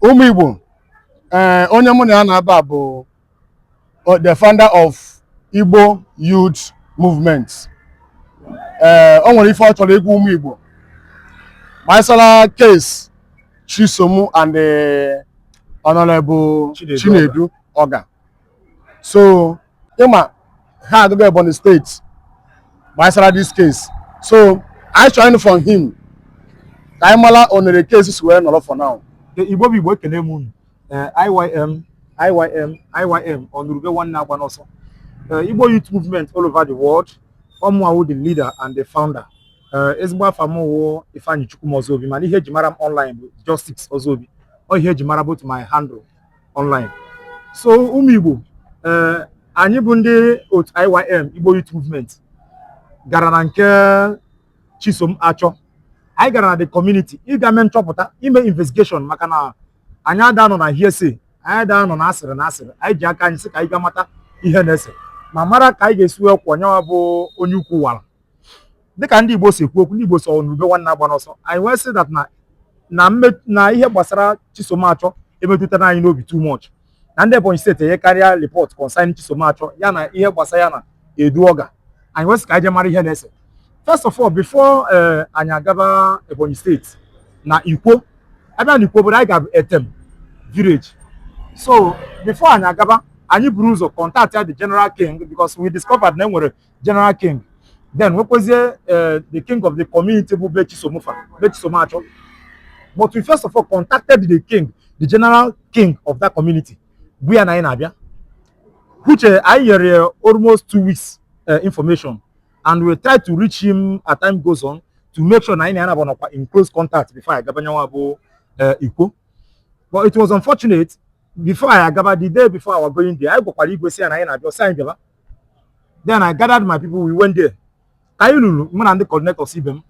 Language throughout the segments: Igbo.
ụmụ Igbo ee eh, onye mụ na ya na-aba bụ uh, the founder of Igbo Youth Movement ee eh, o nwere ife ọ chọrọ ịgwa ụmụ Igbo gbasara case Chisom and the eh, Honorable Chinedu Ogah so ị ma ha agago Ebonyi steeti gbasara this case so anyị chọ ịnụ from him ka anyị mara onere case si wee nọrọ for now igbo bụ igbo ekene m unu eh, IYM IYM IYM ọnụrụ ube nwanne agbana ọsọ eh, igbo youth movement all over the world ọ mụa wụ the leader and the founder Eh, ezigbo afa m wụ Ifeanyi Chukwuma Ozobi mana ihe eji mara m online bụ Justice Ozobi ọ ihe eji mara both my handle online so ụmụ Igbo eh, anyị bụ ndị otu IYM Igbo Youth Movement gara na nke Chisom Achọ anyị gara na the community ịga mee nchọpụta ime investigation maka na anyị ada anọ na hearsay anyị ada anọ na asịrị na asịrị anyị ji aka anyị sị ka anyị ga mata ihe na-ese ma mara ka anyị ga-esi wee kwọ nyawa bụ onye ukwu wara dịka ndị Igbo si ekwu okwu ndị Igbo sị ọnụrụ ube nwanne agbana ọsọ anyị wee sị that na na mme na ihe gbasara Chisom Achọ emetụtara anyị n'obi too much na ndị Ebonyi steeti enyekarịa report concerning Chisom Achọ ya na ihe gbasara ya na Edu Ogah anyị wee sị ka anyị jee mara ihe na-ese first of all before eh, anyị agaba Ebonyi steeti na Ikwo a bịa na Ikwo obodo anyị gara bụ Etem village so before anyị agaba anyị buru ụzọ contactịa the general king because we discovered na enwere general king then nwekwezie eh, the king of the community bụ be Chisom fa be Chisom Achọ but we first of all contacted the king the general king of that community gwa ya na anyị na-abịa which eh, anyị nyere ya almost two weeks eh, information and we try to reach him as time goes on to make sure na anyị na ya na-abụ nọkwa in close contact before anyị gaba nyanwa bụ Ikwo but it was unfortunate before anyị agaba the day before our going there anyị gwakwara igwe sị ya na anyị na-abịa ọ sị anyị bịaba then I gathered my people we went there ka anyị luru mụ na ndị coordinators ibe m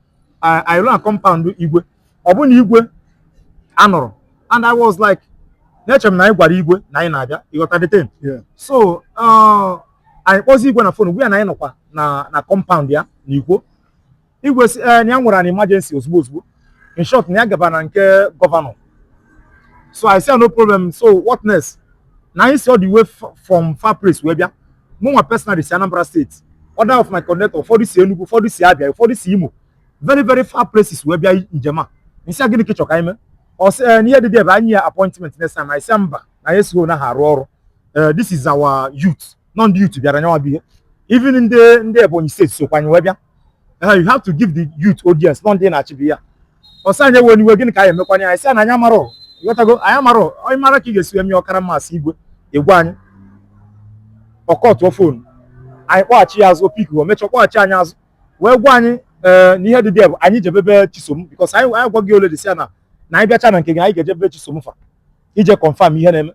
anyị luru na compound igwe ọ bụ na igwe anọrọ and I was like na-eche m na anyị gwara igwe na anyị na-abịa ị ghọta the thing so uh, anyị kpọzi igwe na fon gwa ya na anyị nọkwa na compound ya na Ikwo igwe sị ee eh, na ya nwere an emergency ozugbo ozugbo in short na ya gaba na nke gọvanọ so i say no problem so what next na anyị si all the way from far place wee bịa mụ nwa personally si Anambra steeti other of my coordinator ụfọdụ si Enugu ụfọdụ si Abia ụfọdụ si Imo very very far places wee bịa njem a m sị ya gịnị ka ị chọ ka anyị mee ọ sị eh, n'ihe dị dị ebe anyị ya appointment next time anyị sị mba na anyị esighị na ha arụ ọrụ eh, this is our youth na ọ ndị youth bịara nyawa bụ ihe even ndị ndị Ebonyi steeti sokwa anyị wee bịa Uh, you have to give the youth audience na ọ ndị na-achị be ya ọ sị anyị ewena iwe gịnị ka anyị emekwanye anyị sị na anyị amarọ ịghọtago anyị amarọ onye mara ka ị ga-esi eme ọkara mmasị igwe egwe anyị ọ kọtụọ phone anyị kpọghachi ya azụ o pick o mechaa kpọghachi anyị azụ wee gwa anyị eh, na ihe dị dị bụ anyị jebe be chisom because anyị anyị gwago already sị ya na na anyị bịacha na nke gị anyị ga-eje be chisom fa ije confirm ihe na-eme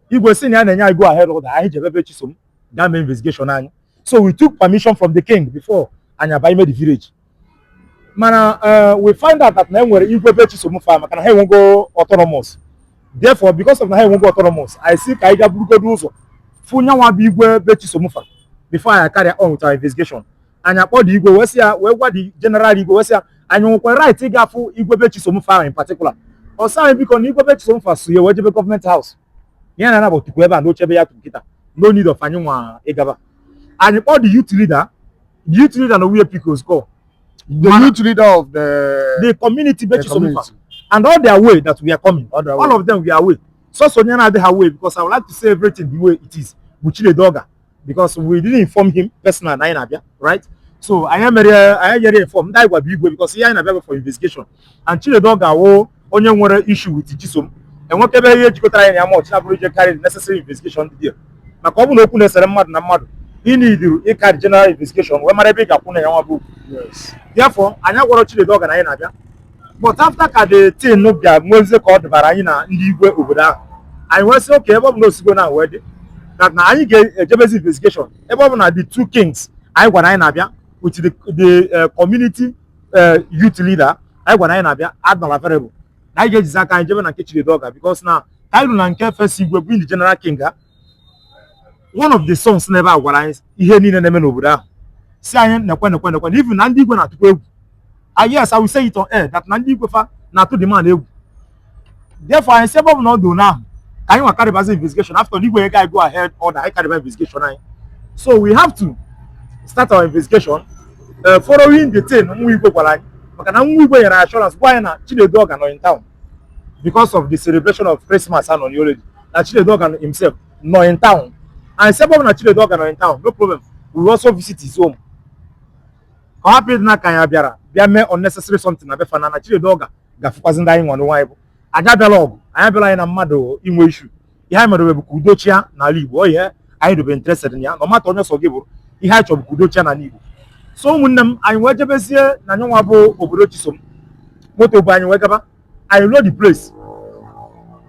igwe sị na ya na-enye anyị go ahead order anyị jebe be chisom gaa mee investigation anyị so we took permission from the king before anyị aba ime the village mana eh, we find out that na e nwere igwe be chisom fa maka na ha enwego autonomous therefore because of na ha enwego autonomous anyị sị ka anyị ga burugodu ụzọ fụ ya nwa bụ igwe be chisom fa before anyị carry on with our investigation anyị akpọọ the igwe wee sị ya wee gwa the general igwe wee sị ya anyị nwekwa right ịga afụ igwe be chisom fa in particular ọ sị anyị biko na igwe be chisom fa so ya wee jebe government house ya na ya naabọ tukwu ebe a n'oche ebe ya tukwu kịta no need of anyị nwa ịgaba anyị kpọọ the youth leader the youth leader na wuye picos call the Mana- youth leader of the the community the be chisom fa community. and all are aware that we are coming All of them were aware sọsọ onye na-adịghị aware because i would like to say everything the way it is bụ chinedu oga because we didn't inform him personal na anyị na-abịa right so anyị mere anyị nyere inform ndị anyị gwa bụ igwe because ihe anyị na-abịa bụ for investigation and Chinedu Oga wụ onye nwere issue with Chisom enwekwebe ihe jikọtara anyị na ya much na-abụrọ ije carry the necessary investigation dị there maka ọ bụ na okwu na-esere mmadụ na mmadụ ị needịrị ịcarry general investigation wee mara ebe ị ga-akwụ na ya nwa bụ okwu therefore anyị agwarọ Chinedu Oga na anyị na-abịa but after ka the thing bịa nwezie ka ọ dịbara anyị na ndị igwe obodo ahụ anyị wee sị okay ebe ọ bụ na o sigo na wee dị that na anyị ga-ejebezi investigation ebe ọ bụ na the two kings anyị gwara anyị na-abịa with the, the uh, community uh, youth leader anyị gwara anyị na-abịa are not available na anyị ga-ejizi aka anyị jebe na nke Chinedu Oga because na ka anyị ru na nke first igwe bụ the general king ha one of the sons n'ebe a gwara anyị ihe niile na-eme n'obodo ahụ sị anyị nekwe nekwe nekwe na even na ndị igwe na-atụkwa egwu ah yes I will say it on air that na ndị igwe fa na-atụ the man egwu therefore anyị sị ebe ọ bụ na ọ dị ụnụ ahụ ka anyị nwa carrybazi investigation after the igwe gave go ahead order anyị carryba investigation anyị so we have to start our investigation uh, following the thing nwa igwe gwara anyị maka na nwa igwe nyere assurance gwa anyị na Chinedu Oga nọ in town because of the celebration of Christmas and on holiday. Na Chinedu Oga himself nọ in town. Anyị sị ebe ọ bụ na Chinedu Oga nọ in town, no problem. We also visit his home. Ka ọ hapụ ịdị ka anyị bịara bịa mee unnecessary something na be fa na na Chinedu Oga ga-afụkwazi ndị anyị nwa n'onwe anyị bụ anyị abịarọ ọgụ anyị abịarọ anyị na mmadụ inwe issue ihe anyị mere bụ ka udo chịa n'ala Igbo ọ ihe anyị dobe interested na ya no matter onye sọ gị bụrụ ihe anyị chọrọ ka udo chịa n'ala Igbo so ụmụnne m anyị wee jebezie na anyị nwa bụ obodo Chisom moto bu anyị wee gaba anyị ruo the place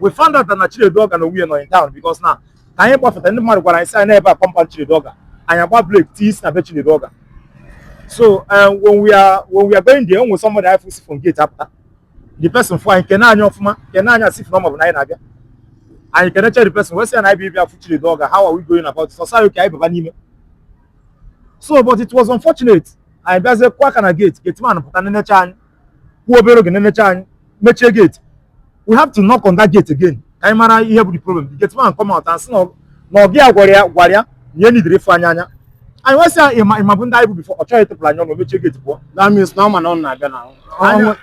we found out na Chinedu Oga na onwe ya nọ in town because na ka anyị gbafeta ndị mmadụ gwara anyị sị anyị na ebe a compound Chinedu Oga anyị agba brake tii isi na be Chinedu Oga so um, when we are when we are going there, when somebody si from gate apụta, the person fụ anyị kene anyị ọfụma kene anyị as if na ọ mabu na anyị na-abịa anyị kenecha the person wee sị ya na anyị bịa ịbịa fụ Chinedu Oga how are we going about it ọ sị ka anyị baba n'ime so but it was unfortunate anyị bịazie kụọ aka na gate gate man pụta nenecha anyị kwụọ obere oge nenecha anyị mechie gate we have to knock on that gate again ka anyị mara ihe bụ the problem the gate man come out and sị na ọ- na ọga ya gwara ya gwara ya na ya needirọ ịfụ anyị anya anyị wee sị ya ị ma ị mabu ndị anyị bụ before ọ chọghị ịtụpụrụ anyị ọnụ mechie gate pụọ That means na ọ ma na ọ na-abịa na Anya.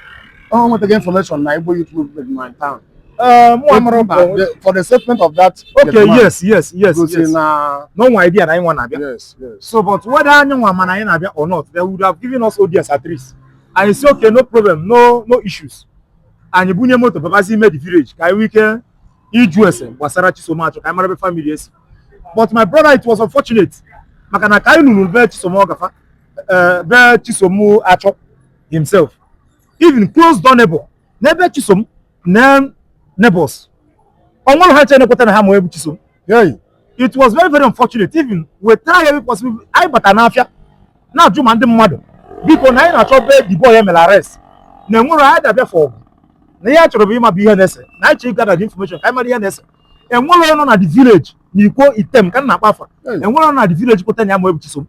ọ nwetago information na Igbo youth movement nọ town. ee mụ amara mba But the- From the statement of that. okay gate man, yes yes yes gosi yes na o nwee idea na anyị nwa na-abịa yes yes. so but whether anyị nwa ma na anyị na-abịa or not they would have given us audience at least anyị sị okay no problem no no issues anyị bunye moto babazi ime the village ka anyị nwee ike ịjụ ese gbasara Chisom Achọ ka anyị mara ebe family esi but my brother it was unfortunate maka na ka anyị luru be Chisom Ọga fa eh, be Chisom Achọ himself even close door neighbor n'ebe Chisom na neighbors o nwerọ ha ncha na-ekweta na ha ma onye bụ Chisom Hey, it was very very unfortunate even we try every possible anyị bata n'afịa na-ajụ ma ndị mmadụ biko na anyị na-achọ be the boy e mere arrest na enwere anyị dabịa for ọgụ na ihe anyị chọrọ bụ ịma bụ ihe na-ese na anyị chọrọ ịgather the information ka anyị mara ihe na-ese enwerọ onye nọ na the village na Ikwo Item ka m na-akpa afa enwerọ onye nọ na the village pụta na ya ma onye bụ Chisom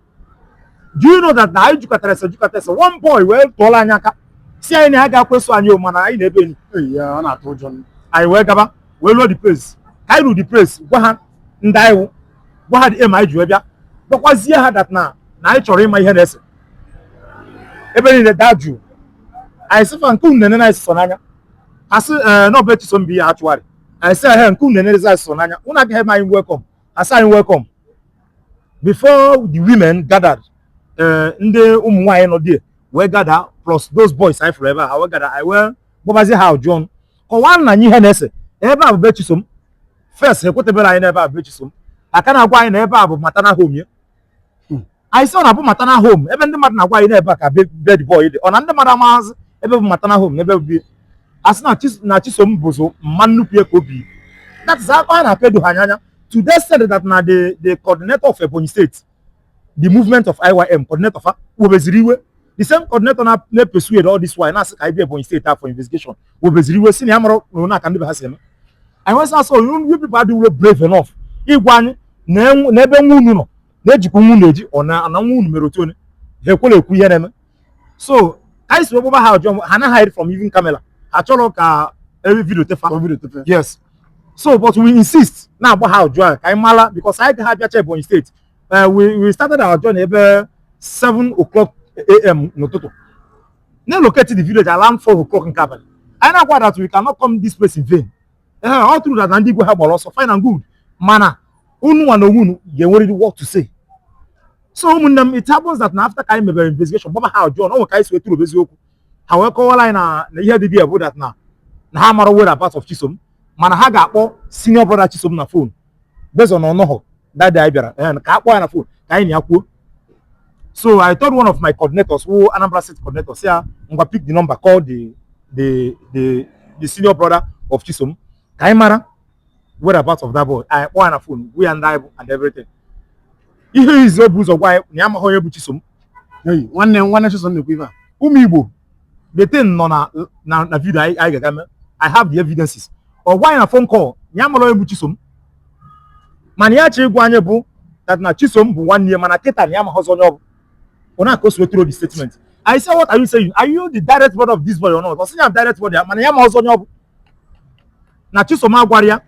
do you know that na anyị jụkatara ese jụkata ese one boy wee tụọla anyị aka sị anyị na ya agakwa eso anyị o mana anyị na-ebe enyi Ee, ya, ọ na-atụ ụjọ m. anyị wee gaba wee ruo the place ka anyị ruo the place gwa ha ndị anyị wụ gwa ha the aim anyị ji wee bịa gwakwazie ha that na na anyị chọrọ ịma ihe na-ese ebe niile daa jụụ anyị sị fa nke unu na-enene anyị sọsọ n'anya ha sị ee na ọ bụ ebe Chisom bi ya achọgharị anyị sị ehe nke unu na-enene anyị sọsọ n'anya unu agaghị eme anyị welcome ha sị anyị welcome before the women gathered eh, ndị ụmụ nwaanyị nọ there wee gather plus those boys anyị fụrụ ebe a ha wee gather anyị wee gbabazi ha ajụjụ ọnụ kọwaanụ anyị ihe na-ese ebe a bụ be Chisom first ekweteberọ anyị na ebe a bụ be Chisom a ka na-agwa anyị na ebe a bụ maternal home ya anyị sị ọ na-abụ maternal home ebe ndị mmadụ na-agwa anyị n'ebe a ka be be the boy dị ọ na ndị mmadụ amaghazị ebe bụ maternal home na ebe bụ be ya sị na Chis- na Chisom bụ ụzọ mma nnukwu ya ka o bi that is akpa a na-apedo ha anya anya to the extent that na the the coordinator of Ebonyi State the movement of IYM coordinator fa webeziri iwe the same coordinator na na persuade all this while na-asị ka anyị bịa Ebonyi State for investigation webeziri iwe sị na ya mara na aka ndị be ha si eme anyị wee sị you people adịwuro brave enough ịgwa anyị na ebe nwa unu nọ na-ejikwa nwa unu eji ọ na nwa unu mere otu onye ha ekwela ekwu ihe na-eme so ka anyị si wee gbaba ha ajụjụ ha na hide from even camera ha achọrọ ka every video tefa yes so but we insist na-agba ha ajụjụ ka anyị mara because anyị gaghị abịacha Ebonyi State Eh, we we started our journey ebe 7 o'clock am n'ụtụtụ na-elocate the village around 4 o'clock nke abalị anyị na-agwa that we cannot come this place in vain ee ọ true that na ndị igwe ha gbara ọsọ fine and good mana unu nwa na onwe unu ga-enwerịrị what to say so ụmụnne m it happens that na after ka anyị mebere investigation gbaba ha ajụjụ na o nwe ka anyị si wetụrụ eziokwu ha wee kọwara anyị na na ihe dị there bụ that na na ha mara whereabout of Chisom mana ha ga-akpọ senior brother Chisom na phone based on ọ nọhọ that day anyị bịara eh, ka a kpọọ ya na phone ka anyị na ya kwuo so I told one of my coordinators who Anambra State coordinator say ah, ngwa pick the number call the the the the senior brother of Chisom ka anyị mara whereabout of that boy anyị kpọọ ya na phone gwa ya ndị anyị bụ and everything ihe izi o bu ụzọ gwa anyị na ya amaghị onye bụ Chisom Hey, nwanne nwanne Chisom na-ekwu ife a ụmụ Igbo the thing nọ na na na video anyị anyị ga-aga mee I have the evidences ọ gwa anyị na phone call ya mara onye bụ Chisom mana ya chọ ịgwa anyị bụ that na Chisom bụ nwanne ya mana kịta na ya amaghọzi onye ọ bụ ọ na-aka o si wetụrụ the statement I say what are you saying are you the direct brother of this boy or not ọ sị ya direct brother ya mana ya amaghọzi onye ọ bụ na Chisom agwarọ ya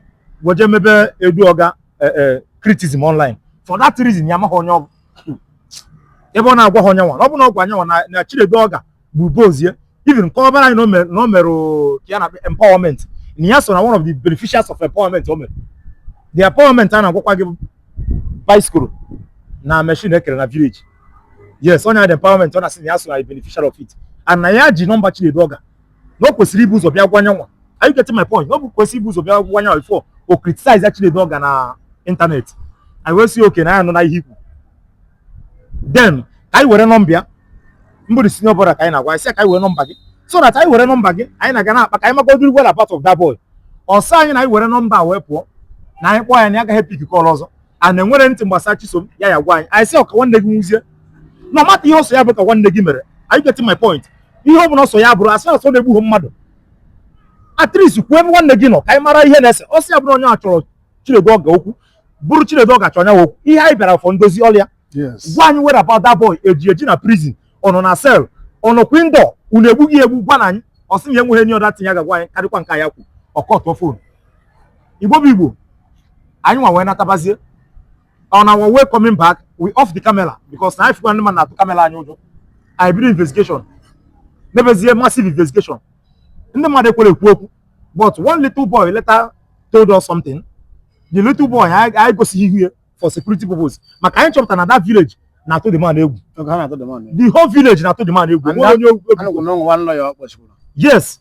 wee je mebe Edu Ogah eh, eh, criticism online for that reason ya amaghị onye ọ bụ ebe ọ na-agwahọ nyanwa ọ bụrụ na ọ gwa nyanwa na na Chinedu Ogah bụ boss ya even nke ọ gwara anyị na o mere- na o mere o- ka ya na empowerment na ya so na one of the beneficiaries of empowerment o mere the empowerment a na-agwakwa gị bụ bicycle na machine e kere na village yes ọ nya the empowerment ọ na-asị na ya so na the beneficiary of it and na ya ji nọmba Chinedu Ogah na o kwesịrị ibu ụzọ bịa gwa nyanwa are you getting my point na o kwesịrị ibu ụzọ bịa gwa nyanwa before o criticize Chinedu Ogah na internet anyị wee sị okay na anyị anụna ihe i kwu then ka anyị were nọmba ya mbụ the senior brother ka anyị na-agwa sị ka anyị were nọmba gị so that anyị were nọmba gị anyị na gị a na-akpa ka anyị magodiri whereabout of that boy ọ sị anyị na anyị were nọmba a wee pụọ na anyị kpọọ ya na ya agaghị pick call ọzọ na e nwerọ anything gbasara Chisom ya ya-agwa anyị anyị sị ọ ka nwanne gị nwụzie no matter ihe ọ sọ ya bụ ka nwanne gị mere are you getting my point ihe ọ bụla ọ sọ ya bụrụ as far as ọ na-egbughị mmadụ at least kwuo ebe nwanne gị nọ ka anyị mara ihe na-ese ọ sọ ya bụrụ onye a chọrọ Chinedu Ogah okwu bụrụ Chinedu Ogah chọrọ ya okwu ihe anyị bịara for ndozi ọlịa gwa anyị whereabout that boy eji eji na prison ọ nọ na cell ọ nọ kwindọ unu egbughị egbu gwanụ anyị ọ sị ya enweghị any other thing ya ga-agwa anyị karịkwa nke ya kwu ọ cut phone igbo bụ igbo anyị nwa wee natabazie on our way coming back we off the camera because na anyị fụkwa ndị mmadụ na-atụ kamera anyị ụjọ anyị bido investigation mebezie massive investigation ndị mmadụ ekwerọ ekwu okwu but one little boy later told us something the little boy anyị gosighị ihu ya for security purpose maka anyị chọpụtara na that village na-atụ the man egwu the whole village na-atụ the man egwu yes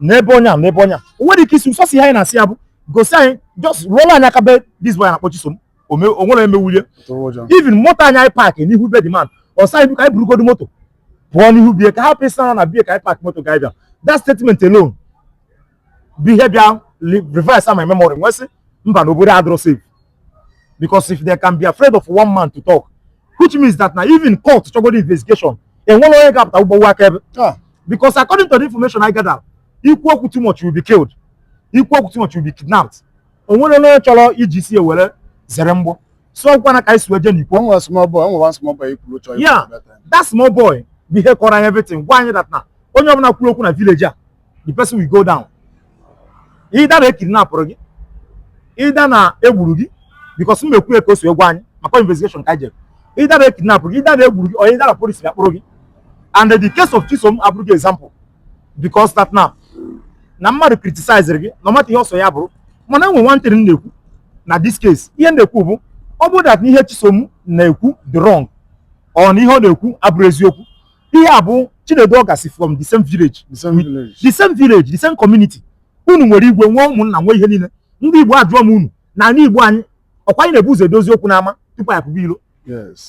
n'ebe onye a n'ebe onye a o nwere ike isi sọsọ ihe anyị na-asị ya bụ gosi anyị just rụọla anyị aka be this boy na-akpọ Chisom o me- o nwere emewulie Tụrụ ụjọ. even moto anyị anyị park n'ihu be the man ọ sị anyị biko anyị burugodu moto pụọ n'ihu be ya ka hapụ ịsị na be ya ka anyị park moto ga-abịa that statement alone bụ ihe bịa li- reverse my memory m wee sị mba na obodo adịrọ safe because if they can be afraid of one man to talk which means that now even court chọgodi investigation o nwerọ onye ga-apụta ịgba aka ebe ah. because according to the information I gather i kwuo okwu too much will be killed i kwuo okwu too much will be kidnapped o nwerọ onye chọrọ iji isi ya were zere mgbọ so ọ bụkwa na ka anyị si wee jee n'ikwu one small boy onwe one small boy ikwuru chọrọ yeah that small boy bụ ya kọọrọ anyị everything gwa anyị that na onye ọbụla kwuru okwu na village a the person will go down either na ekidnapụrụ gị either na egburu gị because m ekwu ya ka o si gwa anyị maka investigation ka jere either na ekidnapụrụ gị either na egburu gị or either na police ga-akpụrụ gị and the case of Chisom abụrụ gị example because that now na mmadụ criticizere gị no matter ihe ọ sọ ya bụrụ mana enwe one thing m na-ekwu na this case ihe m na-ekwu bụ ọ bụrụ that na ihe Chisom na-ekwu dị wrong or na ihe ọ na-ekwu abụrụ eziokwu ihe a bụ Chinedu Ọga si from the same village the same village the same village the same community unu nwere igwe nwee ụmụnna nwee ihe niile ndị Igbo ajụọ m unu na ala Igbo anyị ọkwa anyị na-ebu ụzọ edozi okwu n'ama tupu anyị pụba ilo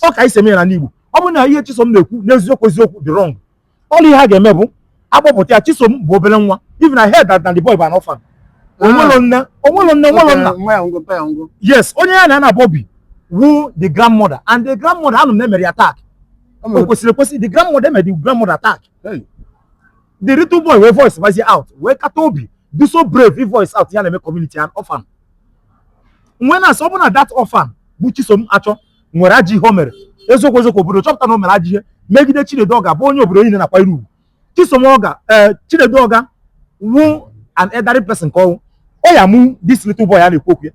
ọ ka anyị si eme ya n'ala Igbo ọ bụrụ na ihe Chisom na-ekwu n'eziokwu eziokwu dị wrong all ihe a ga-eme bụ akpọpụta ya Chisom bụ obere nwa even I heard that na the boy bụ an orphan ah. onwelo nne onwelo nne onwelo nna yes onye ya na ya na-ebi wu the grandmother and the grandmother anụ m na emere ya attack o kwesịrị ekwesị the grandmother emere the grandmother attack the little boy wee voice bazie out wee kata obi dị so brave ị voice out ihe na-eme community an orphan m wee na-asị ọ bụ na that orphan bụ chisom achọ nwere ajọ ihe o mere eziokwu eziokwu obodo chọpụta na o mere ajọ ihe megide chinedu ọga bụ onye obodo niile na-akwanyere ugwu chisom ọga eh, chinedu ọga wu an elderly person ka ọ wụ ọ ya mụ this little boy a na-ekwu okwu ya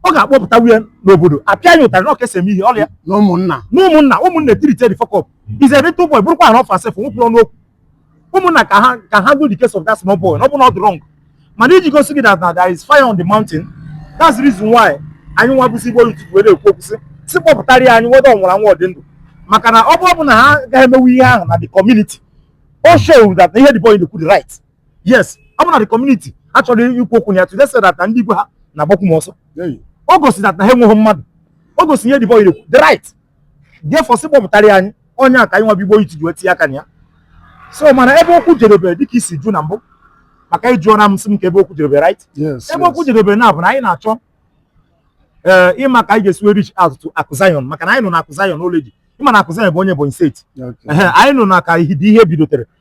ọ ga-akpọpụta nwa ya n'obodo apịa ya ụtarị na ọ ka esi eme ihe or na ụmụnna na ụmụnna ụmụnna etreatie the fuck up is a little boy bụrụkwa an orphan sef nwụkwụrụ n'okwu ụmụnna ka ha ka ha go the case of that small boy na ọ bụrụ na ọ dị wrong mana iji gosi gị that na there is fire on the mountain that's the reason why anyị nwa bụzi igbo youth were ekwu okwu sị si kpọpụtara ya anyị whether ọ nwụrụ anwụ ọ dị ndụ maka na ọ bụ ọ bụ na ha agaghị emewe ihe ahụ na the community o show that na ihe the boy na-ekwu dị right yes ọ bụ na the community achọrọ ikwu okwu na ya to the extent that na ndị igwe ha na-agbakwu m ọsọ o gosi that na ha enweghị mmadụ o gosi ihe the boy na-ekwu dị right therefore sị kpọpụtara anyị ọ nya ka anyị nwa bụ Igbo Youth ji wee tinye aka na ya so mana ebe okwu jedebe dịka i si jụọ na mbụ maka ị jụọna m sị m kee ebe okwu jedebe right ebe okwu jedebe now bụ na anyị na-achọ ee eh, ịma ka anyị ga-esi wee reach out to Akụ Zion maka na anyị nụ na Akụ Zion already ị ma na Akụ Zion bụ onye Ebonyi steeti anyị nụ na ka ihe bidotere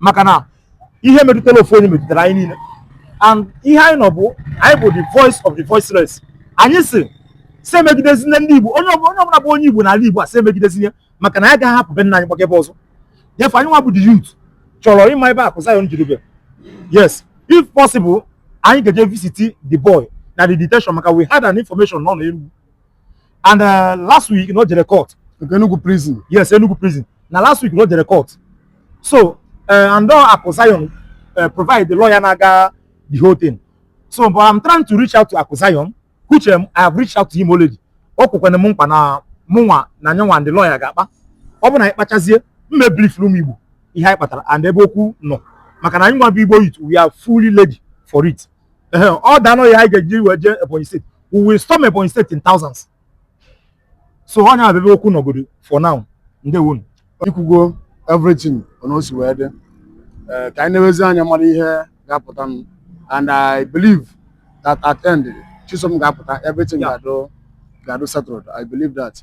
maka na ihe metụtara ofu onye metụtara anyị niile and ihe anyị nwa bụ anyị bụ the voice of the voiceless anyị sị sị emegidezine ndị Igbo onye ọbụla bụ onye Igbo n'ala Igbo a sị emegidezine maka na anyị agaghị hapụ be nna anyị gbaga ebe ọzọ therefore anyị nwa bụ the youth chọrọ ịma ebe Akụ Zion jerube yes if possible anyị ga-eje visit the boy na the detention maka we had an information na ọ nọ Enugu and uh, last week na o jere court nke Enugu prison yes Enugu prison na last week na o jere court so uh, and na ọ Akụ Zion uh, provide the lawyer na-aga the whole thing so but I'm trying to reach out to Akụ Zion which um, I have reached out to him already o kwekwana m nkwa na mụnwa na nyanwa and the lawyer ga-akpa ọ bụ na anyị kpachazie m ebrief ụmụ Igbo ihe anyị kpatara and ebe okwu nọ maka na anyị nwa bụ Igbo youth we are fully ready for it Ehe, ọ danụ ya anyị ga-eji wee jee Ebonyi steeti we will storm Ebonyi steeti in thousands so ọ nya bụ ebe okwu nọgodu for now ndewonu i kwugo everything na o si wee dị ee ka anyị newezie anya mara ihe ga-apụtanụ and i believe that at end Chisom ga-apụta everything Yeah. ga-adụ ga-adụ settled i believe that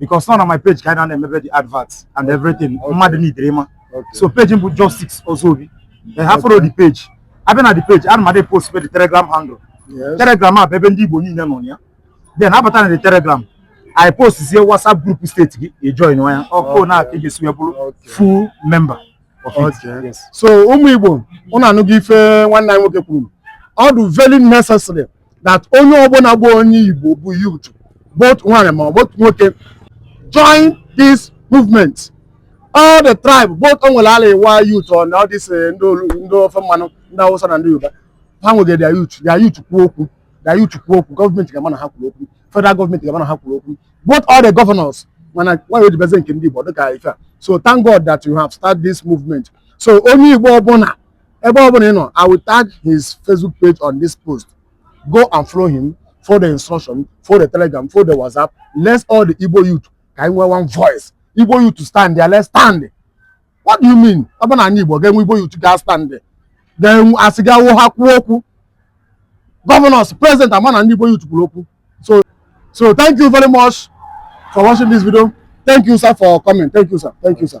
because na ọ na my page ka anyị na-emebe the advert and everything mmadụ needịrị ịma so page m bụ Justice Ozobi ha follow the page a bịa na the page ana m adị post the telegram handle telegram a bụ ebe ndị igbo niile nọ ya then a bata na the telegram i post zie whatsapp group steeti gị i join ya ọkwa nya ka a ga-esi wee bụrụ full member of it so ụmụ igbo unu anụgo ife nwanne anyị nwoke kwuru ọ dị very necessary that onye ọbụla bụ onye Igbo bụ youth both nwaanyị ma both nwoke join this movement all the tribe both o nwere Arewa youth and all this eh, ndị ofe mmanụ ndị Hausa na ndị Yoruba ha nwegere their youth their youth kwuo okwu their youth kwuo okwu gọọmenti ga-ama na ha kwuru okwu federal gọọmenti ga-ama na ha kwuru okwu both all the governors mana why o ji bụzi nke ndị Igbo dịka ife a so thank God that you have started this movement so onye Igbo ọbụla ebe ọ bụla ị nọ i will tag his facebook page on this post go and follow him for the instruction for the telegram for the whatsapp let's all the igbo youth ka anyị nwee one voice igbo youth to stand there let's stand what do you mean ọ bụ na anyị igbo ga-enwe igbo youth ga stand ga-enwe asị ga-awụ ha kwuo okwu governors president ama na ndị igbo youth kwuru okwu so so thank you very much for watching this video thank you sir for coming thank you sir thank you sir